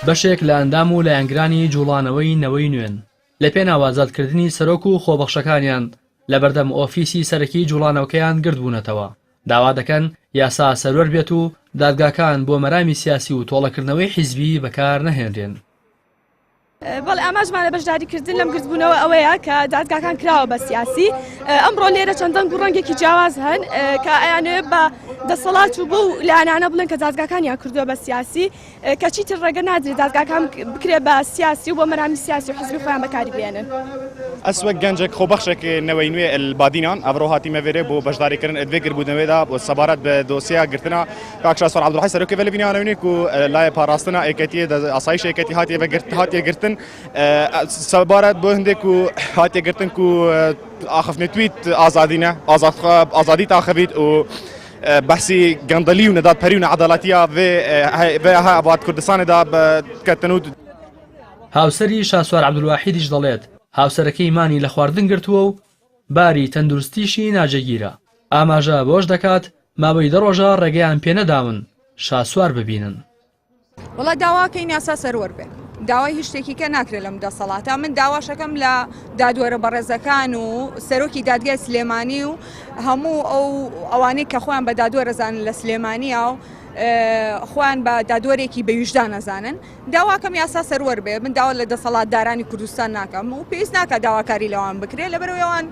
بەشێک لە ئەندام و لایەنگرانی جووڵانەوەی نەوەی نوێن، لە پێناو ئازادکردنی سەرۆک و خۆبەخشەکانیان لە بەردەم ئۆفیسی سەرەکی جووڵانەوکەیان گردبوونەتەوە، داوا دەکەن یاسا سەروەر بێت و دادگاکان بۆ مەرامی سیاسی و تۆڵەکردنەوەی حیزبیی بەکار نەهێنرێن. بەڵێ ئاماژمانە بەشداریکردن لەم گردبوونەوە ئەوەیە کە دادگاکان کراوە بە سیاسی ئەمڕۆ لێرە چەندەنگ و ڕەنگێکی جیاواز هەن کە ئەیانێ بە دەسەڵات و بۆ لانانە بڵێن کە دادگاکانیان کردووە بە سیاسی کەچی تر ڕێگە نادرێت دادگاکان بکرێت بە سیاسی و بۆ مەرامی سیاسی و حزبی خۆیان بەکاری بێنن. ئەسوە گەنجێک خۆبەخشێک نەوەی نوێ بادینان ئەمڕۆ هاتیمەوێرێ بۆ بەشداریکردن ئەدێگر بوودنەوەێدا بۆ سەبارەت بە دۆسیە گرتنا کاک شاسوار عەبدولحەی سەرۆکی ڤەلە بینیانە ونێک و لای پاراستنا ئێکەتیە دە ئاسایش ئێکەتی هاتیە بە گرت هاتیە گرتن سەبارەت بۆ هەندێک و هاتیە گرتن و ئاخفنێ تویت ئازادینە ئازاد ئازادی تاخەبیت و بەسی گەندەلی و نەدات پەری و نەعادالاتیا بێ ها ئەبات کوردستانێدا بەکەتن و هاوسەری شاسوار عەبدولواحیدیش دەڵێت هاوسەرەکەی مانی لە خواردن گرتووە و باری تەندروستیشی ناجێگیرە. ئاماژە بەوەش دەکات، ماوەی دە ڕۆژە ڕێگەیان پێ نەداون شاسوار ببینن. وەڵا داواکەین یاسا سەروەر بێت داوای هیچ شتێکی کە ناکرێت لەم دەسەڵاتە من داواشەکەم لە دادوەرە بەڕێزەکان و سەرۆکی دادگای سلێمانی و هەموو ئەو ئەوانەی کە خۆیان بە دادوەرەزانن لە سلێمانیە و خۆیان بە دادوەرێکی بەویژدان نەزانن داواکەم یاسا سەروەر بێ من داوا لە دەسەڵات دارانی کوردستان ناکەم و پێویست ناکە داواکاری لەوان بکرێت لە بەرەوەیان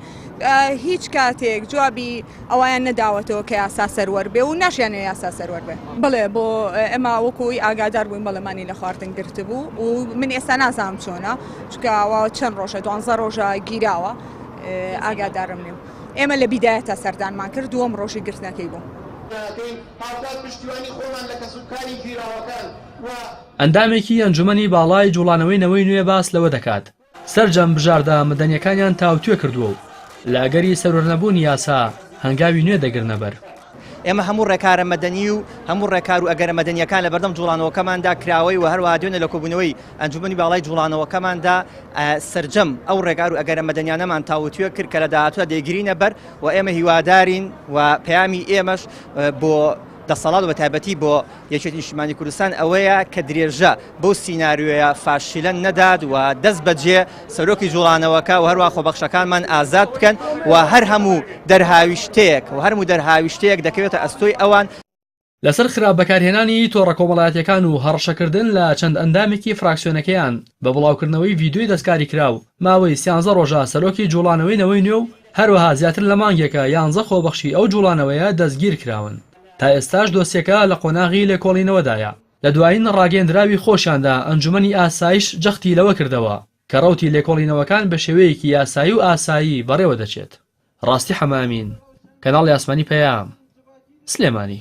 هیچ کاتێک جوابی ئەویان نەداوەتەوە کە یاسا سەروەر بێ و ناشیانە یاسا سەروەر بێ بڵێ بۆ ئەمە وەکوی ئاگادار بووین بەڵێمانی لە خواردن گرت بوو و من ئێستا نازانم چۆنە چکاوە چەند ڕۆژە دوانزە ڕۆژە گیراوە ئاگادارم نیم ئێمە لە بیدایە تا سەردانمان کرد دووەم ڕۆژی گرتنەکەی بوو. دەکەین هاوکات پشتیوانی خۆمان لە کەسوکاری گیراوەکان ئەندامێکی ئەنجومەنی باڵای جوڵانەوەی نەوەی نوێ باس لەوە دەکات، سەرجەم بژاردە مەدەنیەکانیان تاوتوێ کردووە و لە ئەگەری سەروەرنەبوونی یاسا هەنگاوی نوێ دەگرنە بەر. ئێمە هەموو ڕێکارە مەدەنی و هەموو ڕێکار و ئەگەرە مەدەنیەکان لەبەردەم جوڵانەوەکەماندا کراوەی و هەروەها دوێنێ لە کۆبوونەوەی ئەنجومەنی باڵای جوڵانەوەکەماندا سەرجەم ئەو ڕێکار و ئەگەرە مەدەنیانەمان تاوتوێ کرد کە لە داهاتوودا دەیگرینە بەر و ئێمە هیوادارین و پەیامی ئێمەش بۆ دەسەڵات و بەتایبەتی بۆ یەکێتی نیشتیمانی کوردستان ئەوەیە کە درێژە بەو سیناریۆیە فاشیلە نەدات و دەست بەجێ سەرۆکی جوڵانەوەکە و هەروە خۆبەخشەکانمان ئازاد بکەن و هەر هەموو دەرهاویشتەیەک و هەرموو دەرهاویشتەیەک دەکەوێتە ئەستۆی ئەوان لەسەر خراپ بەکارهێنانی تۆڕە کۆمەڵایەتیەکان و هەڕەشەکردن لە چەند ئەندامێکی فراکسیۆنەکەیان بە بڵاوکردنەوەی ڤیدیۆی دەستکاریکراو، ماوەی سیانزە ڕۆژە سەرۆکی جوڵانەوەی نەوەی نوێ و هەروەها زیاتر لە مانگێکە یانزە خۆبەخشی ئەو جوڵانەوەیە دەستگیرکراون، تا ئێستاش دۆسیەکە لە قۆناغی لێکۆڵینەوەدایە. لە دوایین ڕاگەیەندراوی خۆشیاندا ئەنجومەنی ئاسایش جەختی لەوە کردەوە کە ڕەوتی لێکۆڵینەوەکان بە شێوەیەکی یاسایی و ئاسایی بەڕێوە دەچێت. ڕاستی حەمەئەمین، کەناڵی ئاسمانی پەیام، سلێمانی.